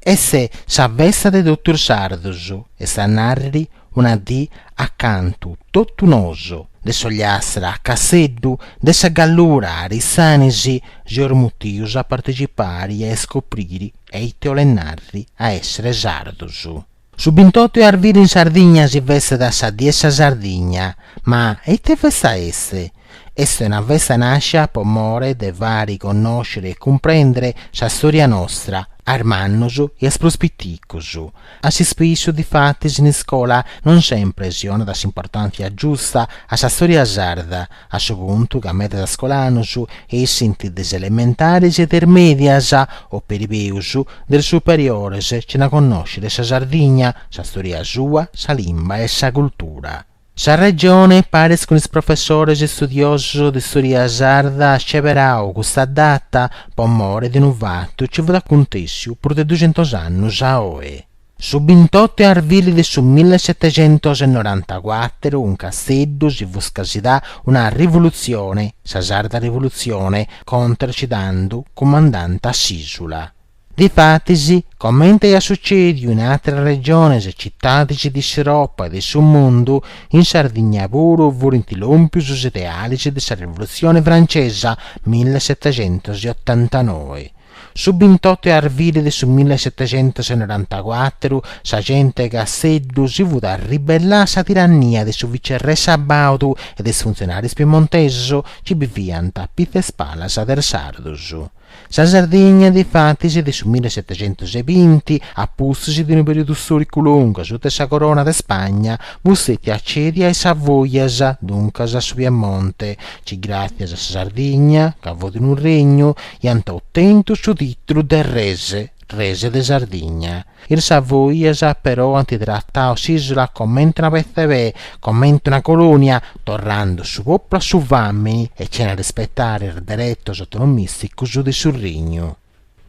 Est sa festa de totu is sardus, est a narri una dì acantu totu nosu, de s'Ogliastra a Casseddu, de sa Gallura a Arissanisi, seus mutius a partecipari e iscopriri eite 'olet narri a èssere sardus. Su bintotu 'e arviri in Sardigna si festat sa die 'e sa Sardigna. Ma eite festa est? Est una festa nàscia po more de fari connoscere e cumprendere sa stòria nostra, a is mannos e a is prus piticos. A s'ispissu, difatis, in iscola non sempre si 'onat s'importàntzia giusta a sa stòria sarda, a su puntu ca medas iscolanos essint de is elementaris e de is mèdias, o peri peus, de is superiores, cena connòscere sa Sardigna, sa storia sua, sa limba e sa cultura. Sa Regione, paris cun is professores istudiosos de storia sarda, at sceberau custa data po mori de unu fatu ci fut acuntèssiu prus de duxentus annus a oe. Su bintottu 'e arvili de su millesetexentosenorantacuatru in Casteddu si fut scasidà una rivulutzione, sa Sarda Rivulutzione, contra a ci tandu cumandànt s'ìsula. Difatis, comente aiat sucèdiu in àteras regiones e citadis de s'Europa e de su mundu, in Sardigna puru furint lòmpius is idealis de sa Rivulutzione francesa millesetexentosotantanoe, Su bintottu 'e arvili de su mille setecentos e norantacuatru sa gente 'e Casseddu si fut arribellà a sa tirannia de su vicerrè Sabaudu e de is funtzionarius piemontesus ci biviant a pitzu 'e is palas de is sardus. Sa Sardigna, difatis, de su mille setecentos e binti a pustis de unu periodu storicu longu asuta 'e sa corona de Spagna, fut stetia cèdia a is Savoias, duncas a su Piemonte, ci gràtzias a sa Sardigna, ca fut unu regnu, iant otentu su titulu de res, res de Sardigna. Is Savoias però ant tratau s'ìsula comente una petza 'e pè, comente una colònia, torrande su pòpulu a su fàmini e cena a rispetare is deretos autonomìsticus de su regnu.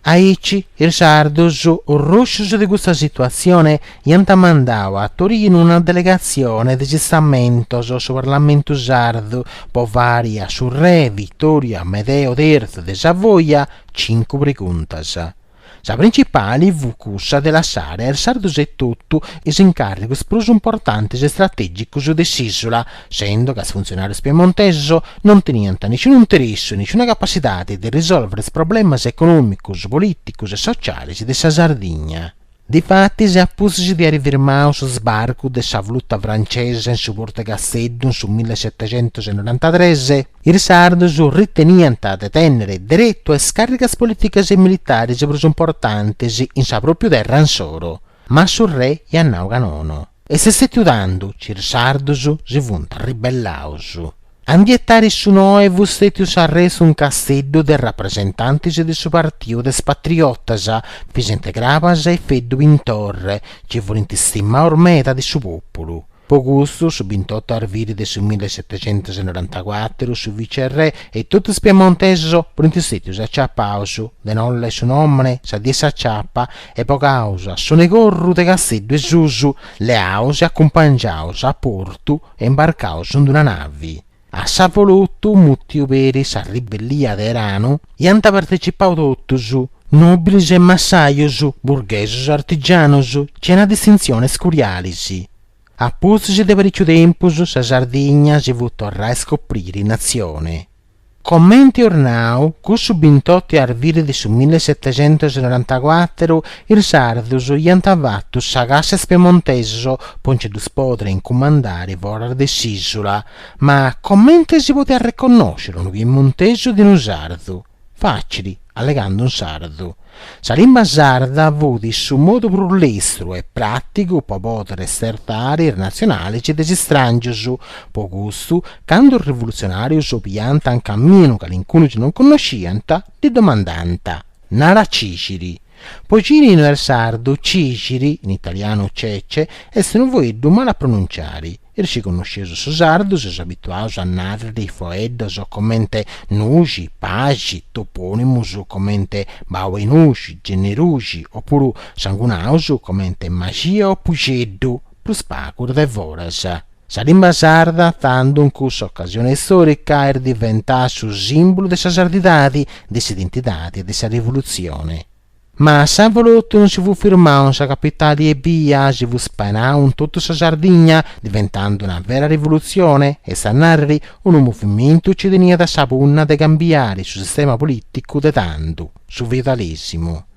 Aici is Sardus, orroscius de custa situatzione, Iant mandau a Torinu una delegatzione de is Istamentos, su Parlamentu sardu, po fari a su re Vittorio Amedeo Terzu de Savoia cincu preguntas. Sa principali fut cussa de lassare a is sardus etotu is incàrrigus prus importantis e stratègicus de s'ìsula, sendo ca is funtzionàrius piemontesus non teniant nisciunu interessu e nisciuna capacidadi de risòlvere is problemas econòmicus, polìticus e socialis de sa Sardigna. Difatis, a pustis de aer firmau su sbarcu de sa flota francesa in su portu 'e Casteddu in su millesetecentusnorantatres, is sardus riteniant de tènnere deretu a is càrrigas polìticas e militaris prus importantis in sa pròpiu terra insoro, ma su re iat nau ca nono. E s'est stetiu tando chi is Sardos si funt ribellaus a ndi etari su noe fut stetiu s'arrestu in Casteddu de rapresentantis de su partiu de is patriotas, Visente Crabas e Feddu Pintorre, chi furint stimaus meda de su pòpulu. Po custu su bintotu arviri de su millesetecentusnorantacuàturu su vicerrè e totu is piemontesos furint stetius aciapaus de innoi leat su nòmene, sa die 'e s'aciapa e bogaus a sonu 'e corru de Casteddu 'e Susu, leaus e acumpangiaus a portu e imbarcaus in d-una navi. A s'avolotu, mutiu peri sa ribellia de Eranu, iant partecipau totus, nobilis e massajus, burghesus e artigianus, cena distintzionis curialis. A pustis de parìciu tempus sa Sardigna si fut torrà a iscopriri natzioni. Comente eus nau, cussu bintotu 'e arviri de su mille setecentos e norantacuatru is sardus iant fatu sa cassa a is piemontesus po nci ddus podiri incumandari foras de s'ìsula. Ma comente si podiat reconnosciri unu piemontesu de unu sardu? Facili. allegando in sardu. Sa limba sarda fut su modu prus lestru e pràtigu pro pòdere stertare is natzionales de is istràngios, pro custu, cando is rivulutzionàrios biant in caminu calincunu chi non connosciant, ddi domandànt, Nara cìciri. Pro cini no est sardu, Cìciri, in italianu Cece, est unu foeddu malu a pronunciare. Is chi connosceus su sardu seus abituaus a nàrriri foeddos comente nuxi, paxi, topònimus comente Bau 'e Nuxi, Genneruxi, opuru sangunaus comente Maxia o Puxeddu, prus pagu is de foras. Sa limba sarda tando in cussa ocasione istòrica est diventada su sìmbulu de sa sardidadi, de s'identidadi e de sa rivolutzione. Ma s'avolotu non si fut firmau in sa capitali ebbia si fut spanau in totu sa Sardigna, diventandu una vera rivolutzione, est a nàrriri, unu movimentu chi teniat sa punna de cambiari su sistema polìticu de tando, su feudalesimu.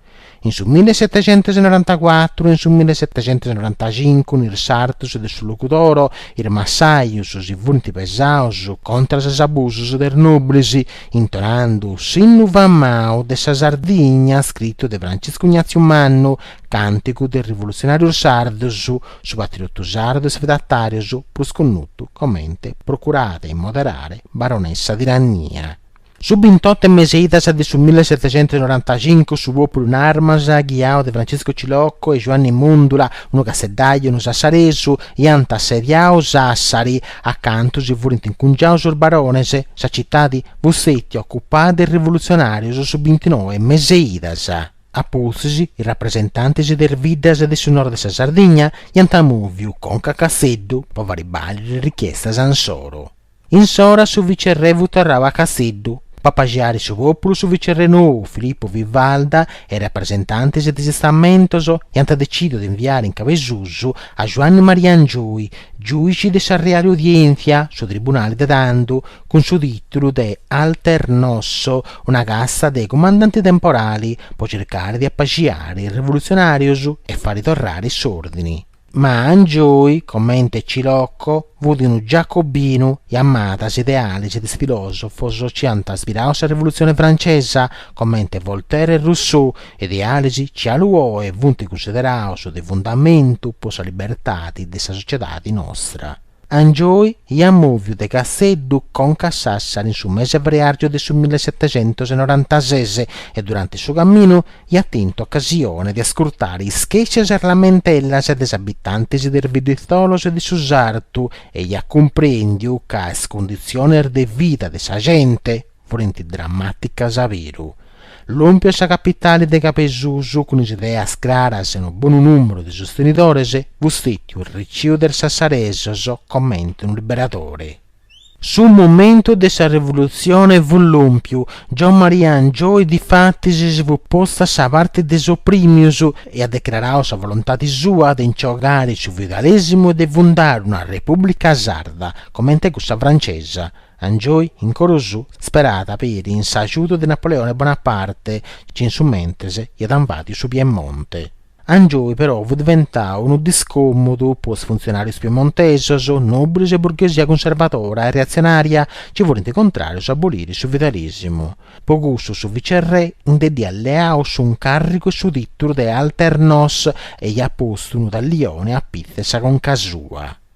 In su millesetecentusnorantacuatru e in su millesetecentusnorantacincu in is sartus de su Logudoro, is massajus si furint pesaus contras is abusus de is nobilis, Intonando s'innu famau de sa Sardigna scritu de Franciscu Ignatziu Mannu, càntigu de is rivolutzionàrius sardus, su patriotu sardu a is feudatàrius prus connotu comente Procurade 'e moderare barones sa tirannia. Su bintot'e meseidas de su millesetecentusnorantacincu su pòpulu in armas, ghiau de Franciscu Cilocco e Juanni Mundula, unu casseddàiu, unu sassaresu, iant assediau Sàssari, Acantu si furint incungiaus sos barones, sa citadi fut stètia occupada de is rivulutzionarius su bintinoe e meseidas a pustis is rapresentantis de is biddas de su nord de sa Sardigna iant moviu conca a Casteddu po fari bàliri is richiestas insoru. Insora su vicerrè fut torrau a Casteddu po apaxiari su populu su vicerrè nou Filippu Vivalda e is rapresentantis de is istamentos iant decidiu de inviari in Cabesusu A Juanne Maria Angioy, giùici de sa Reale Udièntzia, su tribunale de tando, cun su tìtulu de Alternos, una cassa de cumandante temporale, pro circare de apaxiare is revolutzionàrios e fari torrare s'òrdine. Ma Angioy, comente Cilocco, fut unu giacobinu e amàt is ideales de is filòsofos chi ant ispiradu sa Revolutzione Francesa, comente Voltaire e Rousseau, idealis chi galu oe funt cussideraus de fundamentu po sa libertadi de sa sociedadi nostra. Angioy iat mòviu de Casseddu conca a Sassari in su mese 'e freargiu de su millesetecentosenorantases e durante su caminu iat tentu ocasione de ascurtare is chèscias e is lamentellas de is abitantis de is bidditzolos e de su sartu e iat cumprèndiu ca is cunditzionis de vida de sa gente furent drammàticas a beru. Lòmpiu a sa capitale de Cabesusu cun is ideas craras e unu bonu nùmeru de sostenidores fut stètiu reciu de is sassaresos comente unu liberadore. Su momentu de sa revolutzione fut lòmpiu, Giommaria Angioy difatis si fut postu a sa parte de is oprìmius e at decrarau sa volontadi sua de inci bogare su feudalèsimu e de fundare una repùblica sarda comente cussa francesa, Angioy in coro suo sperada peri in s'ajudu de Napoleone Bonaparte chi in su mentres iat invadiu su Piemonte. Angioy però fut diventau unu discomudu po is funtzionarius piemontesos, nobris e burghesia cunservadora e reatzionaria chi furint contrarius a aboliri su feudalisimu. Po cussu su vicerrè inde dd'iat leau s'uncàrrigu e su tìtulu de Alternos e iat postu unu tallione a pitzu 'e sa conca sua.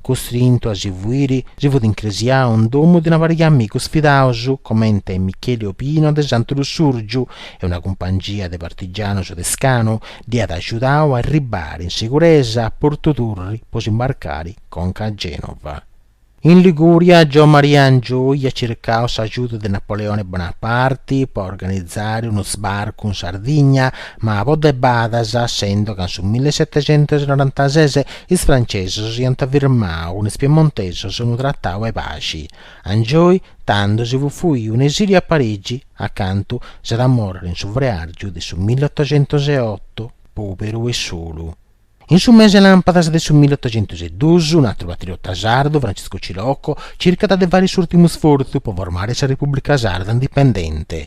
Costrintu a si fuiri, si fut incresiau in domu de una pariga de amigus fidaus, comente Micheli Obino de Santu Lussurgiu, e una cumpangia de partigianus de Scanu dd'iat agiudau a arribbari in seguresa a Portu Turri po s'imbarcari conca a Genova. In Liguria, Giommaria Angioi iat circau s'agiudu de Napoleone Bonaparti po organizari unu sbarcu in Sardigna, ma po debadas, essendo ca in su millesetecentusnorantases Is francesos iant firmau cun is piemontesos unu tratau 'e paxi, Angioi tando si fut fuiu in esiliu a Parigi, acantu s'at a morrere in su freargiu de su millottocentoseotto, poberu e solu. In su mese 'e lampadas de su millottocentosedus, un atru patriota sardu, Franciscu Cilocco, circat de fari s'urtimu sfortzu po formare sa Repubblica Sarda indipendente,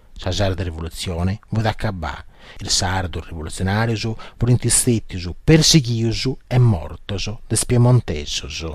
Sa sarda rivolutzione fut acabà, is sardos rivolutzionàrios furint stètios persighios e mortos de is piemontesos.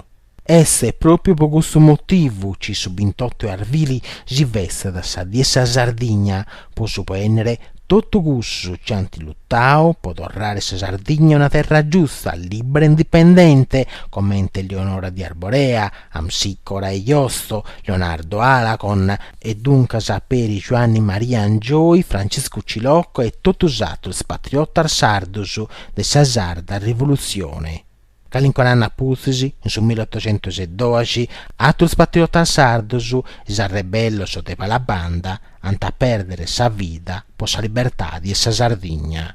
Est pròpiu po custu motivu chi su bintottu 'e arvili si festat sa Die 'e sa Sardigna, po subènnere totu cussus chi ant lutau po torrare sa Sardigna una terra giusta, lìbbera e indipendente, comente Leonora di Arborea, Amsicora e Josto, Leonardo Alagon, e duncas peri Giuanni Maria Angioi, Franciscu Cilocco e totu s'atrus patriotas sardus de sa sarda Rivolutzione. Calincun'annu apustis, in su millottocentusdoxi, atrus patriotas sardus, is arrebellos de Palabanda, ant a perdere sa vida po sa libertadi 'e sa Sardigna.